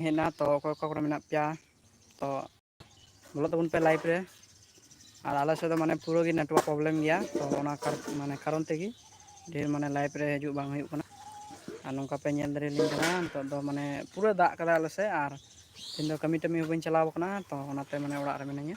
ᱦᱮᱡ ᱮᱱᱟ ᱛᱚ ᱚᱠᱚᱭ ᱚᱠᱟ ᱠᱚᱨᱮ ᱢᱮᱱᱟᱜ ᱯᱮᱭᱟ ᱛᱚ ᱵᱚᱞᱚᱜ ᱛᱟᱵᱚᱱ ᱯᱮ ᱞᱟᱭᱤᱵᱷ ᱨᱮ ᱟᱨ ᱟᱞᱮ ᱥᱮᱫ ᱫᱚ ᱢᱟᱱᱮ ᱯᱩᱨᱟᱹ ᱜᱮ ᱱᱮᱴᱣᱟᱨᱠ ᱯᱨᱚᱵᱞᱮᱢ ᱜᱮᱭᱟ ᱛᱚ ᱚᱱᱟ ᱢᱟᱱᱮ ᱠᱟᱨᱚᱱ ᱛᱮᱜᱮ ᱰᱷᱮᱨ ᱢᱟᱱᱮ ᱞᱟᱭᱤᱯᱷ ᱨᱮ ᱦᱤᱡᱩᱜ ᱵᱟᱝ ᱦᱩᱭᱩᱜ ᱠᱟᱱᱟ ᱟᱨ ᱱᱚᱝᱠᱟ ᱯᱮ ᱧᱮᱞ ᱫᱟᱲᱮᱭᱟᱞᱤᱧ ᱠᱟᱱᱟ ᱱᱤᱛᱚᱜ ᱫᱚ ᱢᱟᱱᱮ ᱯᱩᱨᱟᱹ ᱫᱟᱜ ᱠᱟᱫᱟᱭ ᱟᱞᱮ ᱥᱮᱫ ᱟᱨ ᱤᱧ ᱫᱚ ᱠᱟᱹᱢᱤ ᱴᱟᱹᱢᱤ ᱦᱚᱸ ᱵᱟᱹᱧ ᱪᱟᱞᱟᱣ ᱠᱟᱱᱟ ᱛᱚ ᱚᱱᱟᱛᱮ ᱢᱟᱱᱮ ᱚᱲᱟᱜ ᱨᱮ ᱢᱤᱱᱟᱹᱧᱟ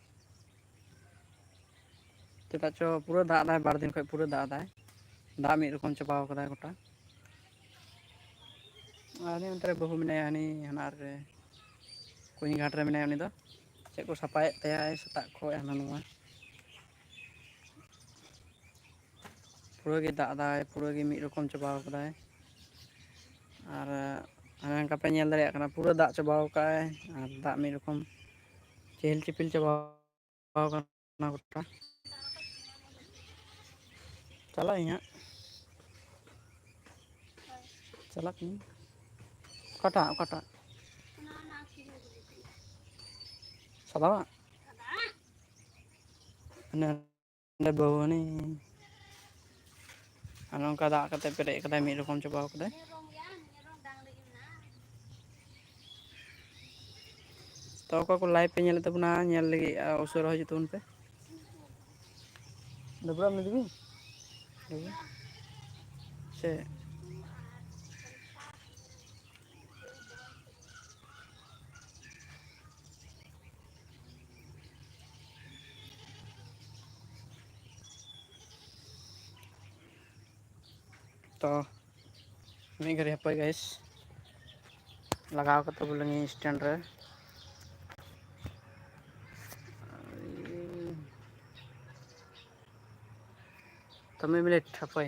ᱪᱮᱫᱟᱜ ᱪᱚ ᱯᱩᱨᱟᱹ ᱫᱟᱜ ᱮᱫᱟᱭ ᱵᱟᱨ ᱫᱤᱱ ᱠᱷᱚᱱ ᱯᱩᱨᱟᱹ ᱫᱟᱜ ᱮᱫᱟᱭ ᱫᱟᱜ ᱢᱤᱫ ᱨᱚᱠᱚᱢ ᱪᱟᱵᱟᱣ ᱠᱟᱫᱟᱭ ᱜᱚᱴᱟ ᱟᱨ ᱩᱱᱤ ᱚᱱᱛᱮ ᱨᱮ ᱵᱟᱹᱦᱩ ᱢᱮᱱᱟᱭᱟ ᱦᱟᱹᱱᱤ ᱦᱟᱱᱟᱨ ᱨᱮ ᱠᱩᱧ ᱜᱷᱟᱴ ᱨᱮ ᱢᱮᱱᱟᱭᱟ ᱩᱱᱤ ᱫᱚ ᱪᱮᱫ ᱠᱚ ᱥᱟᱯᱷᱟᱭᱮᱫ ᱛᱟᱭᱟᱭ ᱥᱮᱛᱟᱜ ᱠᱷᱚᱱ ᱦᱟᱱᱟ ᱱᱚᱣᱟ ᱯᱩᱨᱟᱹ ᱜᱮ ᱫᱟᱜ ᱮᱫᱟᱭ ᱯᱩᱨᱟᱹ ᱜᱮ ᱢᱤᱫ ᱨᱚᱠᱚᱢ ᱪᱟᱵᱟ ᱟᱠᱟᱫᱟᱭ ᱟᱨ ᱦᱟᱱᱮ ᱦᱟᱝᱠᱟ ᱯᱮ ᱧᱮᱞ ᱫᱟᱲᱮᱭᱟᱜ ᱠᱟᱱᱟ ᱯᱩᱨᱟᱹ ᱫᱟᱜ ᱪᱟᱵᱟᱣ ᱟᱠᱟᱫ ᱟᱭ ᱟᱨ ᱫᱟᱜ ᱢᱤᱫ ᱨᱚᱠᱚᱢ ᱪᱮᱦᱮᱞ ᱪᱮᱯᱮᱞ ᱪᱟᱵᱟ ᱟᱠᱟᱱᱟ ᱜᱚᱴᱟ ᱪᱟᱞᱟᱜ ᱟᱹᱧ ᱦᱟᱸᱜ ᱪᱟᱞᱟᱜ ᱠᱟᱹᱱᱟᱹᱧ ᱚᱠᱟᱴᱟᱜ ᱚᱠᱟᱴᱟᱜ ᱥᱟᱫᱟᱣᱟᱜ ᱚᱸᱰᱮ ᱵᱟᱹᱣᱦᱟᱹᱱᱤ ᱟᱨ ᱱᱚᱝᱠᱟ ᱫᱟᱜ ᱠᱟᱛᱮᱫ ᱯᱮᱨᱮᱡ ᱟᱠᱟᱫᱟᱭ ᱢᱤᱫ ᱨᱚᱠᱚᱢ ᱪᱟᱵᱟᱣ ᱟᱠᱟᱫᱟᱭ ᱛᱚ ᱚᱠᱚᱭ ᱠᱚ ᱞᱟᱭᱤᱵᱷ ᱯᱮ ᱧᱮᱞᱮᱫ ᱛᱟᱵᱚᱱᱟ ᱧᱮᱞ ᱞᱟᱹᱜᱤᱫ ᱩᱥᱟᱹᱨᱟ ᱦᱤᱡᱩᱜ ᱛᱟᱵᱚᱱ ᱯᱮ ᱰᱟᱹᱵᱨᱟᱹᱜ ᱟᱢ ᱱᱤᱛ ᱜᱮ ᱥᱮ ᱛᱚ ᱢᱤᱫ ᱜᱷᱟᱹᱲᱤᱡ ᱦᱟᱯᱳᱭ ᱜᱟᱭᱤᱥ ᱞᱟᱜᱟᱣ ᱠᱟᱛᱮ ᱵᱚᱞᱮ ᱱᱤᱭᱟᱹ ᱥᱴᱮᱱᱰ ᱨᱮ ᱛᱚ ᱢᱤᱫ ᱢᱤᱱᱤᱴ ᱦᱟᱯᱳᱭ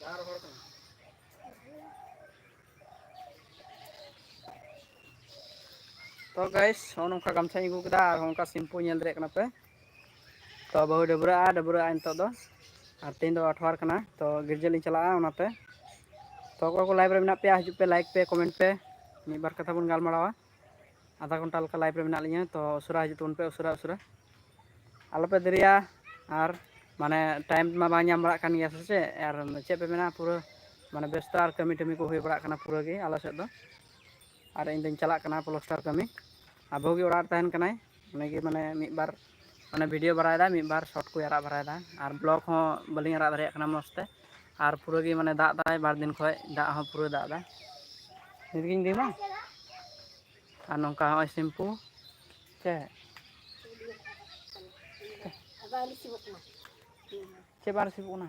ᱡᱟᱦᱟᱸ ᱨᱚᱦᱚᱲ ᱠᱟᱱᱟ ᱛᱚ ᱜᱟᱭᱤᱥ ᱱᱚᱜᱼᱚ ᱱᱚᱝᱠᱟ ᱜᱟᱢᱪᱷᱟᱧ ᱟᱹᱜᱩ ᱠᱮᱫᱟ ᱟᱨ ᱱᱚᱝᱠᱟ ᱥᱤᱢᱯᱩ ᱧᱮᱞ ᱫᱟᱲᱮᱭᱟᱜ ᱠᱟᱱᱟ ᱯᱮ ᱛᱚ ᱵᱟᱹᱦᱩᱭ ᱰᱟᱹᱵᱽᱨᱟᱹᱜᱼᱟ ᱰᱟᱹᱵᱽᱨᱟᱹᱜ ᱟᱭ ᱱᱤᱛᱚᱜ ᱫᱚ ᱟᱨ ᱛᱮᱦᱮᱧ ᱫᱚ ᱟᱴᱷᱣᱟᱨ ᱠᱟᱱᱟ ᱛᱚ ᱜᱤᱨᱡᱟᱹ ᱞᱤᱧ ᱪᱟᱞᱟᱜᱼᱟ ᱚᱱᱟᱛᱮ ᱛᱚ ᱚᱠᱚᱭ ᱠᱚ ᱞᱟᱭᱤᱵᱷ ᱨᱮ ᱢᱮᱱᱟᱜ ᱯᱮᱭᱟ ᱦᱤᱡᱩᱜ ᱯᱮ ᱞᱟᱭᱤᱠ ᱯᱮ ᱠᱚᱢᱮᱱᱴ ᱯᱮ ᱢᱤᱫ ᱵᱟᱨ ᱠᱟᱛᱷᱟ ᱵᱚᱱ ᱜᱟᱞᱢᱟᱨᱟᱣᱟ ᱟᱫᱷᱟ ᱜᱷᱚᱱᱴᱟ ᱞᱮᱠᱟ ᱞᱟᱭᱤᱵᱷ ᱨᱮ ᱢᱮᱱᱟᱜ ᱞᱤᱧᱟᱹ ᱛᱚ ᱩᱥᱟᱹᱨᱟ ᱦᱤᱡᱩᱜ ᱛᱟᱵᱚᱱ ᱯᱮ ᱩᱥᱟᱹᱨᱟ ᱩᱥᱟᱹᱨᱟ ᱟᱞᱚᱯᱮ ᱫᱮᱨᱤᱭᱟ ᱟᱨ ᱢᱟᱱᱮ ᱴᱟᱭᱤᱢ ᱢᱟ ᱵᱟᱝ ᱧᱟᱢ ᱵᱟᱲᱟᱜ ᱠᱟᱱ ᱜᱮᱭᱟ ᱥᱮ ᱪᱮᱫ ᱟᱨ ᱪᱮᱫ ᱯᱮ ᱢᱮᱱᱟ ᱯᱩᱨᱟᱹ ᱢᱟᱱᱮ ᱵᱮᱥᱛᱚ ᱟᱨ ᱠᱟᱹᱢᱤ ᱴᱟᱹᱢᱤ ᱠᱚ ᱦᱩᱭ ᱵᱟᱲᱟᱜ ᱠᱟᱱᱟ ᱯᱩᱨᱟᱹ ᱜᱮ ᱟᱞᱮ ᱥᱮᱫ ᱫᱚ ᱟᱨ ᱤᱧᱫᱚᱧ ᱪᱟᱞᱟᱜ ᱠᱟᱱᱟ ᱯᱞᱟᱥᱴᱟᱨ ᱠᱟᱹᱢᱤ ᱟᱨ ᱵᱟᱹᱦᱩ ᱜᱮ ᱚᱲᱟᱜ ᱨᱮ ᱛᱟᱦᱮᱱ ᱠᱟᱱᱟᱭ ᱚᱱᱟᱜᱮ ᱢᱟᱱᱮ ᱢᱤᱫ ᱵᱟᱨ ᱢᱟᱱᱮ ᱵᱷᱤᱰᱭᱳ ᱵᱟᱲᱟᱭᱮᱫᱟ ᱢᱤᱫ ᱵᱟᱨ ᱥᱚᱨᱴ ᱠᱚᱭ ᱟᱲᱟᱜ ᱵᱟᱲᱟᱭᱮᱫᱟ ᱟᱨ ᱵᱞᱚᱜᱽ ᱦᱚᱸ ᱵᱟᱹᱞᱤᱧ ᱟᱲᱟᱜ ᱫᱟᱲᱮᱭᱟᱜ ᱠᱟᱱᱟ ᱢᱚᱡᱽ ᱛᱮ ᱟᱨ ᱯᱩᱨᱟᱹ ᱜᱮ ᱢᱟᱱᱮ ᱫᱟᱜ ᱫᱟᱭ ᱵᱟᱨ ᱫᱤᱱ ᱠᱷᱚᱡ ᱫᱟᱜ ᱦᱚᱸ ᱯᱩᱨᱟᱹ ᱫᱟᱜ ᱫᱟᱭ ᱱᱤᱛᱜᱤᱧ ᱫᱤᱢᱟ ᱟᱨ ᱱᱚᱝᱠᱟ ᱦᱚᱸᱜᱼᱚᱭ ᱥᱤᱢᱯᱩ ᱥᱮ ᱪᱮᱫ ᱵᱟᱝ ᱨᱤᱥᱤᱵᱚᱜ ᱠᱟᱱᱟ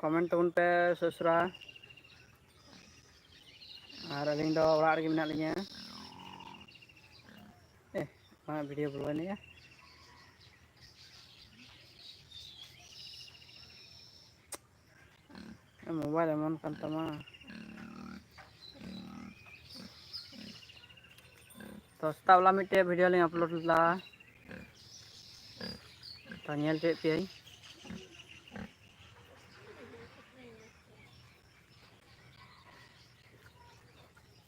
ᱠᱚᱢᱮᱱᱴ ᱛᱟᱵᱚᱱ ᱯᱮ ᱥᱚᱥᱨᱟ ᱟᱨ ᱟᱹᱞᱤᱧ ᱫᱚ ᱚᱲᱟᱜ ᱨᱮᱜᱮ ᱢᱮᱱᱟᱜ ᱞᱤᱧᱟᱹ ᱮ ᱢᱟ ᱵᱷᱤᱰᱤᱭᱳ ᱵᱚᱞᱚᱭᱮᱱ ᱭᱟ ᱢᱳᱵᱟᱭᱤᱞ ᱮᱢᱚᱱ ᱠᱟᱱ ᱛᱟᱢᱟ ᱛᱚ ᱥᱮᱛᱟᱜ ᱵᱮᱞᱟ ᱢᱤᱫᱴᱮᱡ ᱵᱷᱤᱰᱭᱳ ᱞᱤᱧ ᱟᱯᱞᱳᱰ ᱞᱮᱫᱟ ᱛᱚ ᱧᱮᱞ ᱦᱚᱪᱚᱭᱮᱫ ᱯᱮᱭᱟᱹᱧ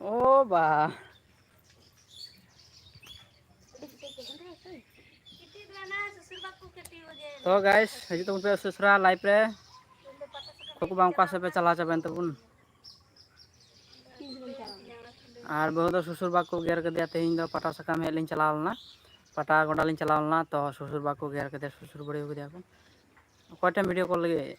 ᱚ ᱵᱟ ᱛᱚ ᱜᱟᱭᱥ ᱦᱤᱡᱩᱜ ᱛᱟᱵᱚᱱ ᱯᱮ ᱥᱩᱥᱨᱟ ᱞᱟᱭᱤᱯ ᱨᱮ ᱠᱚᱠᱚ ᱵᱟᱝ ᱚᱠᱟ ᱥᱮᱫ ᱯᱮ ᱪᱟᱞᱟᱣ ᱪᱟᱵᱟᱭᱮᱱ ᱛᱟᱵᱚᱱ ᱟᱨ ᱵᱟᱹᱦᱩ ᱫᱚ ᱥᱩᱥᱩᱨ ᱵᱟᱠᱚ ᱜᱮᱨ ᱠᱮᱫᱮᱭᱟ ᱛᱮᱦᱮᱧ ᱫᱚ ᱯᱟᱴᱟ ᱥᱟᱠᱟᱢ ᱦᱮᱡ ᱞᱤᱧ ᱪᱟᱞᱟᱣ ᱞᱮᱱᱟ ᱯᱟᱴᱟ ᱜᱚᱰᱟ ᱞᱤᱧ ᱪᱟᱞᱟᱣ ᱞᱮᱱᱟ ᱛᱚ ᱥᱩᱥᱩᱨ ᱵᱟᱠᱚ ᱜᱮᱨ ᱠᱮᱫᱮᱭᱟ ᱥᱩᱥᱩᱨ ᱵᱟᱹᱲᱤ ᱠᱮᱫᱮᱭᱟ ᱠᱚ ᱚᱠᱚᱭ ᱴᱷᱮᱱ ᱵᱷᱤᱰᱤᱭᱳ ᱠᱚᱞ ᱞᱟᱹᱜᱤᱫ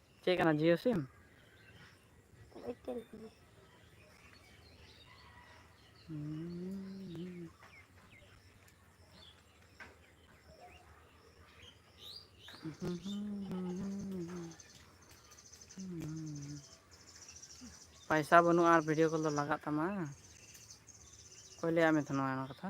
ᱪᱮᱫ ᱠᱟᱱᱟ ᱡᱤᱭᱳ ᱥᱤᱢ? ᱮᱭᱟᱨᱴᱮᱞ ᱠᱟᱱᱟ᱾ ᱯᱟᱭᱥᱟ ᱵᱟᱹᱱᱩᱜᱼᱟ ᱟᱨ ᱵᱷᱤᱰᱭᱳ ᱠᱚᱞ ᱫᱚ ᱞᱟᱜᱟᱜ ᱛᱟᱢᱟ᱾ ᱚᱠᱚᱭ ᱞᱟᱹᱭᱟᱫ ᱢᱮ ᱛᱟᱦᱮᱱᱟ ᱚᱱᱟ ᱠᱟᱛᱷᱟ?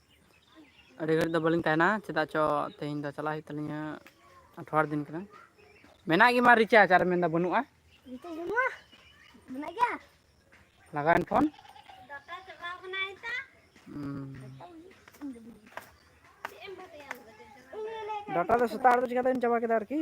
ᱟᱹᱰᱤ ᱜᱷᱟᱹᱲᱤᱡ ᱫᱚ ᱵᱟᱹᱞᱤᱧ ᱛᱟᱦᱮᱱᱟ ᱪᱮᱫᱟᱜ ᱪᱚ ᱛᱮᱦᱮᱧ ᱫᱚ ᱪᱟᱞᱟᱜ ᱦᱩᱭᱩᱜ ᱛᱟᱹᱞᱤᱧᱟ ᱟᱴᱷᱣᱟᱨ ᱫᱤᱱ ᱠᱟᱱᱟ ᱢᱮᱱᱟᱜ ᱜᱮᱢᱟ ᱨᱤᱪᱟᱨᱡᱽ ᱟᱨ ᱢᱮᱱᱫᱟ ᱵᱟᱹᱱᱩᱜᱼᱟ ᱨᱤᱪᱟᱨᱡᱽ ᱵᱟᱹᱱᱩᱜᱼᱟ ᱢᱮᱱᱟᱜ ᱜᱮᱭᱟ ᱞᱟᱜᱟᱣᱮᱱ ᱯᱷᱳᱱ ᱰᱟᱴᱟ ᱪᱟᱵᱟᱣ ᱠᱟᱱᱟ ᱮᱴᱟ ᱰᱟᱴᱟ ᱫᱚ ᱥᱮᱛᱟᱜ ᱨᱮᱫᱚ ᱪᱤᱠᱟᱛᱮᱢ ᱪᱟᱵᱟ ᱠᱮᱫᱟ ᱟᱨᱠᱤ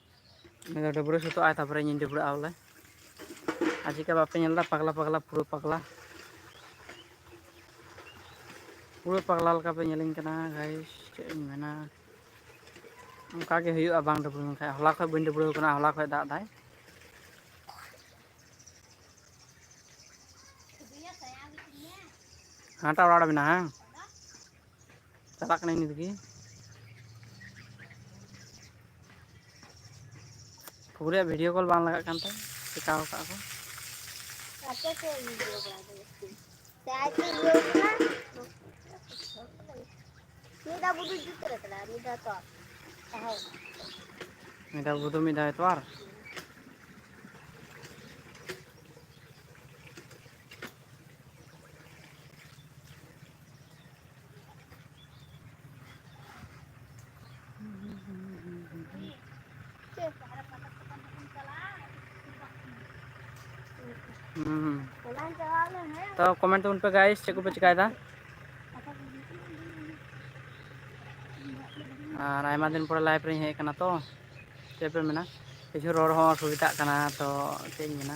ᱩᱱᱤ ᱫᱚ ᱰᱟᱹᱵᱽᱨᱟᱹ ᱥᱟᱹᱛᱚᱜ ᱟᱭ ᱛᱟᱨᱯᱚᱨᱮ ᱤᱧᱤᱧ ᱰᱟᱹᱵᱽᱨᱟᱹᱜᱼᱟ ᱵᱚᱞᱮ ᱟᱨ ᱪᱮᱠᱟ ᱵᱟᱯᱮ ᱧᱮᱞ ᱮᱫᱟ ᱯᱟᱜᱽᱞᱟ ᱯᱟᱜᱽᱞᱟ ᱯᱩᱨᱟᱹ ᱯᱟᱜᱽᱞᱟ ᱯᱩᱨᱟᱹ ᱯᱟᱜᱽᱞᱟ ᱞᱮᱠᱟ ᱯᱮ ᱧᱮᱞᱤᱧ ᱠᱟᱱᱟ ᱜᱟᱭᱤᱥ ᱪᱮᱫ ᱤᱧ ᱢᱮᱱᱟ ᱚᱱᱠᱟ ᱜᱮ ᱦᱩᱭᱩᱜᱼᱟ ᱵᱟᱝ ᱰᱟᱹᱵᱽᱨᱟᱹ ᱞᱮᱱᱠᱷᱟᱡ ᱦᱚᱞᱟ ᱠᱷᱚᱡ ᱵᱟᱹᱧ ᱰᱟᱹᱵᱽᱨᱟᱹ ᱠᱟᱱᱟ ᱦᱚᱞᱟ ᱠᱷᱚᱡ ᱫᱟᱜ ᱫᱟᱭ ᱦᱟᱱᱟᱴᱟᱜ ᱚᱲᱟᱜ ᱨᱮ ᱢᱮᱱᱟᱜᱼᱟ ᱪᱟᱞᱟᱜ ᱠᱟᱹᱱᱟᱹᱧ ᱱᱤᱛ ᱜᱮ ᱯᱩᱨᱟᱹ ᱵᱷᱤᱰᱭᱳ ᱠᱚᱞ ᱵᱟᱝ ᱞᱟᱜᱟᱜ ᱠᱟᱱ ᱛᱟᱭ ᱪᱮᱠᱟᱣ ᱠᱟᱜᱼᱟ ᱠᱚ ᱟᱯᱮ ᱥᱮ ᱵᱷᱤᱰᱤᱭᱳ ᱠᱚᱞ ᱫᱚ ᱡᱟᱹᱥᱛᱤ ᱢᱤᱫ ᱫᱷᱟᱣ ᱜᱩᱰᱩ ᱢᱤᱫ ᱫᱷᱟᱣ ᱛᱚᱣᱟᱨ ᱦᱩᱸ ᱛᱚ ᱠᱚᱢᱮᱱᱴ ᱛᱟᱵᱚᱱ ᱯᱮ ᱜᱟᱭᱤᱥ ᱪᱮᱫ ᱠᱚᱯᱮ ᱪᱮᱠᱟᱭᱮᱫᱟ ᱟᱨ ᱟᱭᱢᱟ ᱫᱤᱱ ᱯᱚᱨᱮ ᱞᱟᱭᱤᱵᱷ ᱨᱤᱧ ᱦᱮᱡ ᱟᱠᱟᱱᱟ ᱛᱚ ᱪᱮᱫ ᱯᱮ ᱢᱮᱱᱟ ᱠᱤᱪᱷᱩ ᱨᱚᱲ ᱦᱚᱸ ᱚᱥᱩᱵᱤᱫᱷᱟᱜ ᱠᱟᱱᱟ ᱛᱚ ᱪᱮᱫ ᱤᱧ ᱢᱮᱱᱟ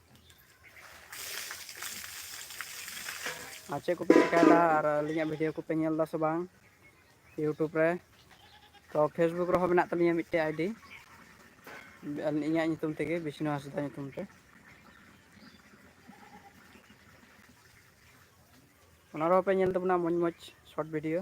ᱟᱨ ᱪᱮᱫ ᱠᱚᱯᱮ ᱪᱮᱠᱟᱭᱮᱫᱟ ᱟᱨ ᱟᱹᱞᱤᱧᱟᱜ ᱵᱷᱤᱰᱤᱭᱳ ᱠᱚᱯᱮ ᱧᱮᱞ ᱮᱫᱟ ᱥᱮ ᱵᱟᱝ ᱤᱭᱩᱴᱩᱵᱽ ᱨᱮ ᱛᱚ ᱯᱷᱮᱥᱵᱩᱠ ᱨᱮᱦᱚᱸ ᱢᱮᱱᱟᱜ ᱛᱟᱹᱞᱤᱧᱟ ᱢᱤᱫᱴᱮᱡ ᱟᱭᱰᱤ ᱤᱧᱟᱹᱜ ᱧᱩᱛᱩᱢ ᱛᱮᱜᱮ ᱵᱤᱥᱱᱩ ᱦᱟᱸᱥᱫᱟ ᱧᱩᱛᱩᱢ ᱛᱮ ᱚᱱᱟ ᱨᱮᱦᱚᱸ ᱯᱮ ᱧᱮᱞ ᱛᱟᱵᱚᱱᱟ ᱢᱚᱡᱽ ᱢᱚᱡᱽ ᱥᱚᱨᱴ ᱵᱷᱤᱰᱤᱭᱳ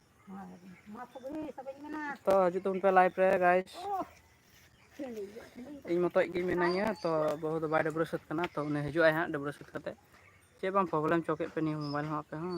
ᱛᱚ ᱦᱤᱡᱩᱜ ᱛᱟᱵᱚᱱ ᱯᱮ ᱞᱟᱭᱤᱵᱷ ᱨᱮ ᱜᱟᱭᱤᱥ ᱤᱧ ᱢᱚᱛᱚᱡ ᱜᱮ ᱢᱤᱱᱟᱹᱧᱟ ᱛᱚ ᱵᱟᱹᱦᱩ ᱫᱚ ᱵᱟᱭ ᱰᱟᱹᱵᱽᱨᱟᱹ ᱥᱟᱹᱛ ᱠᱟᱱᱟ ᱛᱚ ᱩᱱᱤ ᱦᱤᱡᱩᱜ ᱟᱭ ᱦᱟᱸᱜ ᱰᱟᱹᱵᱽᱨᱟᱹ ᱥᱟᱹᱛ ᱠᱟᱛᱮᱫ ᱪᱮᱫ ᱵᱟᱝ ᱯᱨᱚᱵᱞᱮᱢ ᱪᱚ ᱠᱮᱫ ᱯᱮ ᱱᱤᱭᱟᱹ ᱢᱳᱵᱟᱭᱤᱞ ᱦᱚᱸ ᱟᱯᱮ ᱦᱚᱸ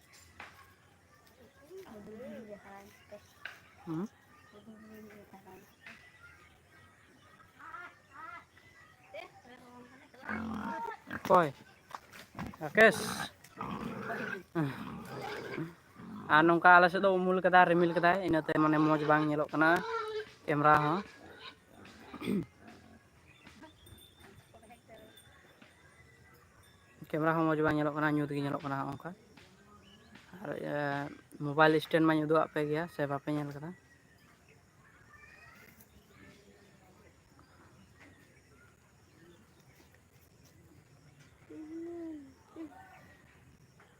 ᱦᱩᱸ ᱚᱠᱚᱭ ᱨᱟᱠᱮᱥ ᱟᱨ ᱱᱚᱝᱠᱟ ᱟᱞᱮ ᱥᱮᱫ ᱫᱚ ᱩᱢᱩᱞ ᱠᱟᱫᱟᱭ ᱨᱤᱢᱤᱞ ᱠᱟᱫᱟᱭ ᱤᱱᱟᱹᱛᱮ ᱢᱟᱱᱮ ᱢᱚᱡᱽ ᱵᱟᱝ ᱧᱮᱞᱚᱜ ᱠᱟᱱᱟ ᱠᱮᱢᱨᱟ ᱦᱚᱸ ᱠᱮᱢᱮᱨᱟ ᱦᱚᱸ ᱢᱚᱸᱡᱽ ᱵᱟᱝ ᱧᱮᱞᱚᱜ ᱠᱟᱱᱟ ᱧᱩᱛ ᱜᱮ ᱧᱮᱞᱚᱜ ᱠᱟᱱᱟ ᱦᱚᱸᱜ ᱚᱝᱠᱟ ᱟᱨ ᱮ ᱢᱳᱵᱟᱭᱤᱞ ᱥᱴᱮᱱ ᱢᱟᱧ ᱩᱫᱩᱜ ᱟᱜ ᱯᱮ ᱜᱮᱭᱟ ᱥᱮ ᱵᱟᱯᱮ ᱧᱮᱞ ᱠᱟᱫᱟ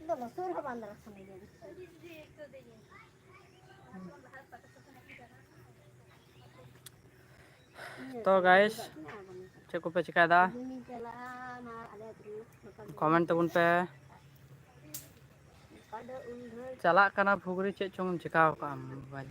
ᱤᱧ ᱫᱚ ᱞᱚᱥᱚᱫ ᱨᱮᱦᱚᱸ ᱵᱟᱝ ᱫᱟᱲᱟ ᱥᱟᱱᱟᱧᱟ ᱛᱚ ᱜᱟᱭᱮᱥ ᱪᱮᱫ ᱠᱚᱯᱮ ᱪᱮᱠᱟᱭᱮᱫᱟ ᱠᱚᱢᱮᱱᱴ ᱛᱟᱵᱚᱱ ᱯᱮ ᱪᱟᱞᱟᱜ ᱠᱟᱱᱟ ᱯᱷᱩᱜᱽᱨᱤ ᱪᱮᱫ ᱪᱚᱝ ᱪᱮᱠᱟ ᱟᱠᱟᱫ ᱢᱳᱵᱟᱭᱤᱞ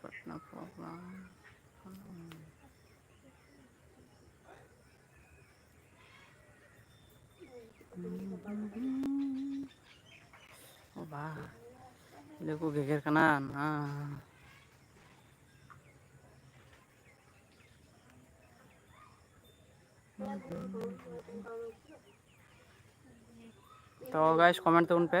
ᱠᱚᱴᱱᱟ ᱯᱨᱳᱜᱨᱟᱢ ᱚ ᱵᱟ ᱪᱤᱞᱤ ᱠᱚ ᱜᱮᱜᱮᱨ ᱠᱟᱱᱟ ᱱᱟ ᱛᱚ ᱜᱟᱭᱥ ᱠᱚᱢᱮᱱᱴ ᱛᱟᱵᱚᱱ ᱯᱮ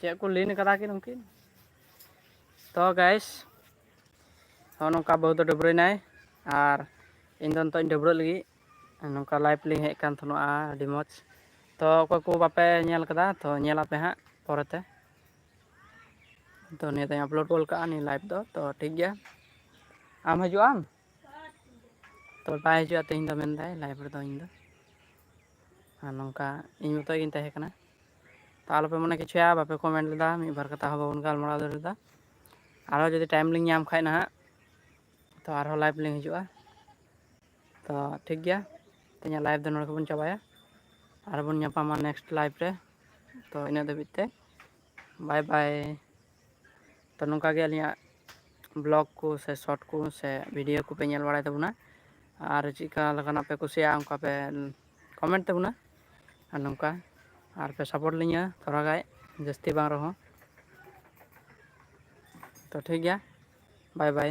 ᱪᱮᱫ ᱠᱚ ᱞᱤᱱ ᱠᱟᱫᱟ ᱠᱤᱱ ᱩᱱᱠᱤᱱ ᱛᱚ ᱜᱟᱭᱥ ᱱᱚᱜᱼᱚ ᱱᱚᱝᱠᱟ ᱵᱟᱹᱦᱩ ᱫᱚ ᱰᱟᱹᱵᱽᱨᱟᱹᱭᱱᱟᱭ ᱟᱨ ᱤᱧ ᱫᱚ ᱱᱤᱛᱚᱜ ᱤᱧ ᱰᱟᱹᱵᱽᱨᱟᱹᱜ ᱞᱟᱹᱜᱤᱫ ᱱᱚᱝᱠᱟ ᱞᱟᱭᱤᱵᱽ ᱞᱤᱧ ᱦᱮᱡ ᱟᱠᱟᱱ ᱛᱟᱦᱮᱱᱟ ᱟᱹᱰᱤ ᱢᱚᱡᱽ ᱛᱚ ᱚᱠᱚᱭ ᱠᱚ ᱵᱟᱯᱮ ᱧᱮᱞ ᱠᱟᱫᱟ ᱛᱚ ᱧᱮᱞ ᱟᱯᱮ ᱦᱟᱸᱜ ᱯᱚᱨᱮᱛᱮ ᱛᱚ ᱱᱤᱭᱟᱹ ᱫᱚᱧ ᱟᱯᱞᱳᱰ ᱜᱚᱫ ᱠᱟᱜᱼᱟ ᱱᱤᱭᱟᱹ ᱞᱟᱭᱤᱵᱽ ᱫᱚ ᱛᱚ ᱴᱷᱤᱠ ᱜᱮᱭᱟ ᱟᱢ ᱦᱤᱡᱩᱜ ᱟᱢ ᱛᱚ ᱵᱟᱭ ᱦᱤᱡᱩᱜᱼᱟ ᱛᱮᱦᱮᱧ ᱫᱚ ᱢᱮᱱᱫᱟᱭ ᱞᱟᱭᱤᱵᱷ ᱨᱮᱫᱚ ᱤᱧ ᱫᱚ ᱟᱨ ᱱᱚᱝᱠᱟ ᱤᱧ ᱢᱚᱛᱚ ᱜᱤᱧ ᱛᱟᱦᱮᱸ ᱠᱟᱱᱟ ᱛᱚ ᱟᱞᱚᱯᱮ ᱢᱚᱱᱮ ᱠᱮᱪᱷᱮᱭᱟ ᱵᱟᱯᱮ ᱠᱚᱢᱮᱱᱴ ᱞᱮᱫᱟ ᱢᱤᱫ ᱵᱟᱨ ᱠᱟᱛᱷᱟ ᱦᱚᱸ ᱵᱟᱵᱚᱱ ᱜᱟᱞᱢᱟᱨᱟᱣ ᱫᱟᱲᱮ ᱞᱮᱫᱟ ᱟᱨᱦᱚ ᱡᱩᱫᱤ ᱴᱟᱭᱤᱢ ᱞᱤᱧ ᱧᱟᱢ ᱠᱷᱟᱡ ᱱᱟᱦᱟᱜ ᱛᱚ ᱟᱨᱦᱚᱸ ᱞᱟᱭᱤᱵᱷ ᱞᱤᱧ ᱦᱤᱡᱩᱜᱼᱟ ᱛᱚ ᱴᱷᱤᱠ ᱜᱮᱭᱟ ᱛᱮᱦᱮᱧᱟᱜ ᱞᱟᱭᱤᱵᱷ ᱫᱚ ᱱᱚᱰᱮ ᱜᱮᱵᱚᱱ ᱪᱟᱵᱟᱭᱟ ᱟᱨᱵᱚᱱ ᱧᱟᱯᱟᱢᱟ ᱱᱮᱠᱥᱴ ᱞᱟᱭᱤᱵᱷ ᱨᱮ ᱛᱚ ᱤᱱᱟᱹᱜ ᱫᱷᱟᱹᱵᱤᱡ ᱛᱮ ᱵᱟᱭ ᱵᱟᱭ ᱛᱚ ᱱᱚᱝᱠᱟ ᱜᱮ ᱟᱹᱞᱤᱧᱟᱜ ᱵᱞᱚᱜᱽ ᱠᱚ ᱥᱮ ᱥᱚᱨᱴ ᱠᱚ ᱥᱮ ᱵᱷᱤᱰᱭᱳ ᱠᱚᱯᱮ ᱧᱮᱞ ᱵᱟᱲᱟᱭ ᱛᱟᱵᱚᱱᱟ ᱟᱨ ᱪᱮᱫᱠᱟ ᱞᱮᱠᱟᱱᱟᱜ ᱯᱮ ᱠᱩᱥᱤᱭᱟᱜᱼᱟ ᱚᱱᱠᱟ ᱯᱮ ᱠᱚᱢᱮᱱᱴ ᱛᱟᱵᱚᱱᱟ ᱟᱨ ᱱᱚᱝᱠᱟ ᱟᱨ ᱯᱮ ᱥᱟᱯᱳᱨᱴ ᱞᱤᱧᱟᱹ ᱛᱷᱚᱲᱟ ᱜᱟᱡ ᱡᱟᱹᱥᱛᱤ ᱵᱟᱝ ᱨᱮᱦᱚᱸ ᱛᱚ ᱴᱷᱤᱠ ᱜᱮᱭᱟ ᱵᱟᱭ ᱵᱟᱭ